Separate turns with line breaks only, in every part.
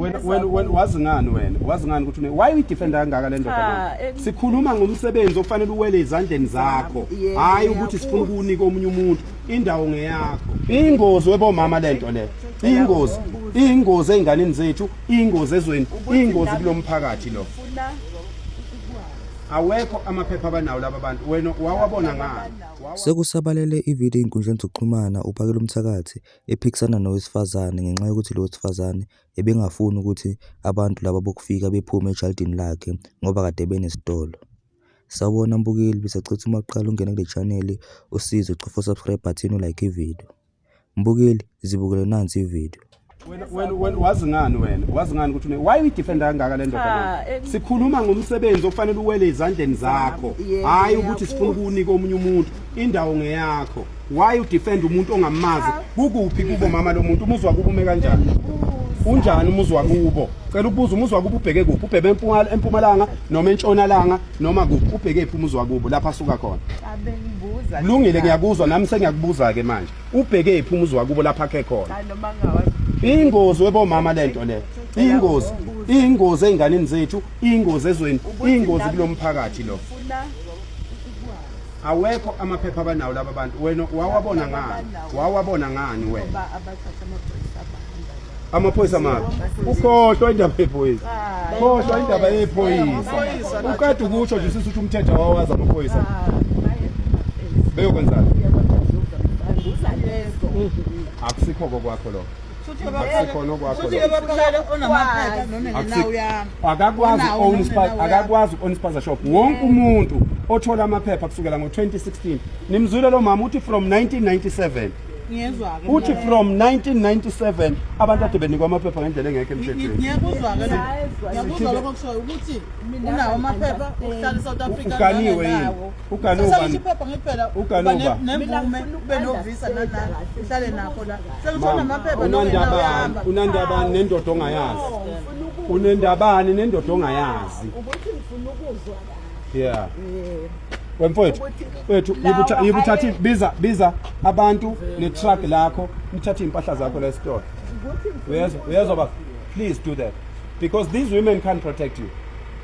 wena wena wena wazi ngani wena wazi ngani ukuthi why we defend kangaka le ndoda manje eh, sikhuluma ngomsebenzi ofanele uwele izandleni zakho hayi ukuthi sifuna ukunika omunye umuntu indawo ngeyakho ingozi webomama lento le ingozi ingozi einganeni zethu ingozi ezweni ingozi kulomphakathi lo awekho amaphepha abanawo laba bantu wena wawabona ngani sekusabalele
ivideo einkundleni zokuxhumana uphakela umthakathi ephikisana nowesifazane ngenxa yokuthi lo wesifazane ebengafuni ukuthi abantu laba bokufika bephume ejalidini lakhe ngoba kade benesitolo. Sawubona mbukeli, besacela uma uqala ungena kule chaneli usize ucofa u-subscribe button u-like ividiyo. Mbukeli, zibukele nansi ividiyo.
wazi ngani wena wazi ngani ukuthi why uyidefenda kangaka le ndoda ah, eh, sikhuluma ngomsebenzi okufanele uwele ezandleni zakho hhayi ukuthi sifuna ukuwunika omunye umuntu indawo ngeyakho why udefend umuntu ongamazi kukuphi kubo mama lo muntu umuzwa kubo ume kanjani unjani umuzi wakubo cela ukubuza umuzi wakubo ubheke kuphi ubhebe empumalanga empumalanga noma entshonalanga noma kuphi ubheke phi umuzi wakubo lapha suka khona abengibuza kulungile ngiyakuzwa nami sengiyakubuza ke manje ubheke phi umuzi wakubo lapha khe khona noma
ngawazi ingozi webomama
lento le ingozi ingozi einganeni zethu ingozi ezweni ingozi kulomphakathi lo awekho amaphepha abanawo laba bantu wena wawabona ngani wawabona ngani wena amaphoyisa mabi ukhohlwa indaba yephoyisa khohlwa indaba yephoyisa uqeda ukusho nje sisuthi umthetho wawazi amaphoyisa beyokwenzani akusikho kokwakho lokho akusikhona okwakhoakakwazi uku-own spaza shop wonke umuntu othola amaphepha kusukela ngo-2016 nimzwile lo mama uthi from 1997 uthi from 1997 abantu ade benikwa amaphepha ngendlela engekho
emthethweni
Uganuba. Sasa
isiphepha ngikuphela. Uganuba. Nemvume ube novisa nala. Uhlale nakho la. Sekuthola amaphepha nongendabani. Unandabani
nendoda ongayazi. Unendabani nendoda ongayazi. Ukuthi ngifuna
ukuzwa la. Yeah.
Yeah. wemfowethu wethu yibuthatha biza biza abantu netruck lakho nithathe impahla zakho la esitolo uyezwa uyezwa ba please do that because these women can't protect you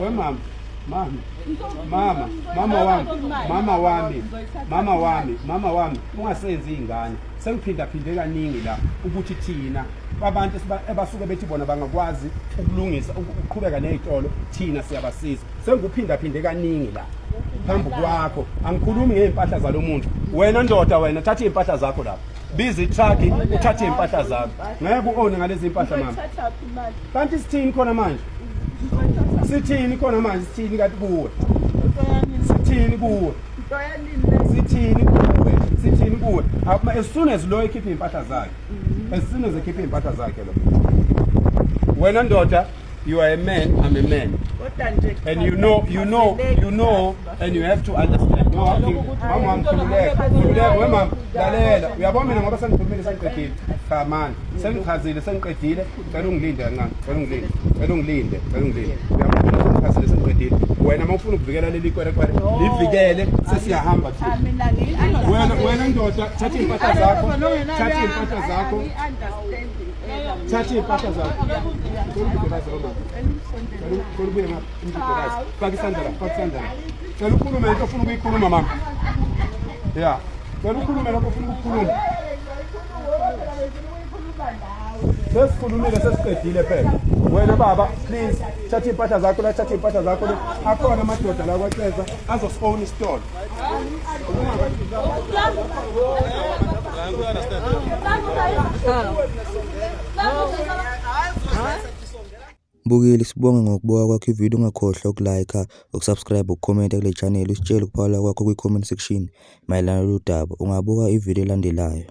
We mama, mama, mama, mama wami, mama wami, mama wami, mama wami, ungasenzi ingane. Sengiphinda phinde kaningi la ukuthi thina abantu abasuke bethi bona bangakwazi ukulungisa ukuqhubeka nezitolo thina siyabasiza. Sengikuphinda phinde kaningi la phambi kwakho. Angikhulumi ngeimpahla zalomuntu. Wena ndoda wena thatha impahla zakho lapha. Biza itruck uthathe impahla zakho. Ngeke uone ngalezi impahla mama. kanti sithini khona manje sithini khona manje sithini kanti kuwe sithini kuwe sithini kuwe sithini kuwe as soon as lo ekhiphe impahla zakhe mm-hmm. as soon as ekhiphe impahla zakhe lo wena ndoda you are a man i'm a man and you know you know you know and you have to understand no walking mama mkhululeka khululeka we mama lalela uyabona mina ngoba sengikhulumile sengiqedile cha manje sengichazile sengiqedile cela ungilinde kancane cela ungilinde cela ungilinde cela ungilinde uyabona sengichazile sengiqedile wena uma ufuna ukuvikela leli kwerekwere livikele sesiyahamba thina wena wena ndoda thatha iy'mpahla zakho thatha iy'mpahla zakho thatha iy'mpahla zakho Cela ubuye ngapha. Faka isandla la, faka isandla la. Cela ukhulume into ofuna ukuyikhuluma mama. Yeah. Cela ukhulume lokho ofuna ukukhuluma. Sesikhulumile sesiqedile phela. Wena baba, please thatha impahla zakho la, thatha impahla zakho le. Akhona amadoda la kwaCeza azosifona isitolo.
Huh? Mbukeli sibonge ngokubuka kwakho ivideo ungakhohlwa uku like, uku subscribe, uku comment kule channel usitshele ukuphawula kwakho kwi comment section mayelana nalolu daba. Ungabuka ivideo elandelayo.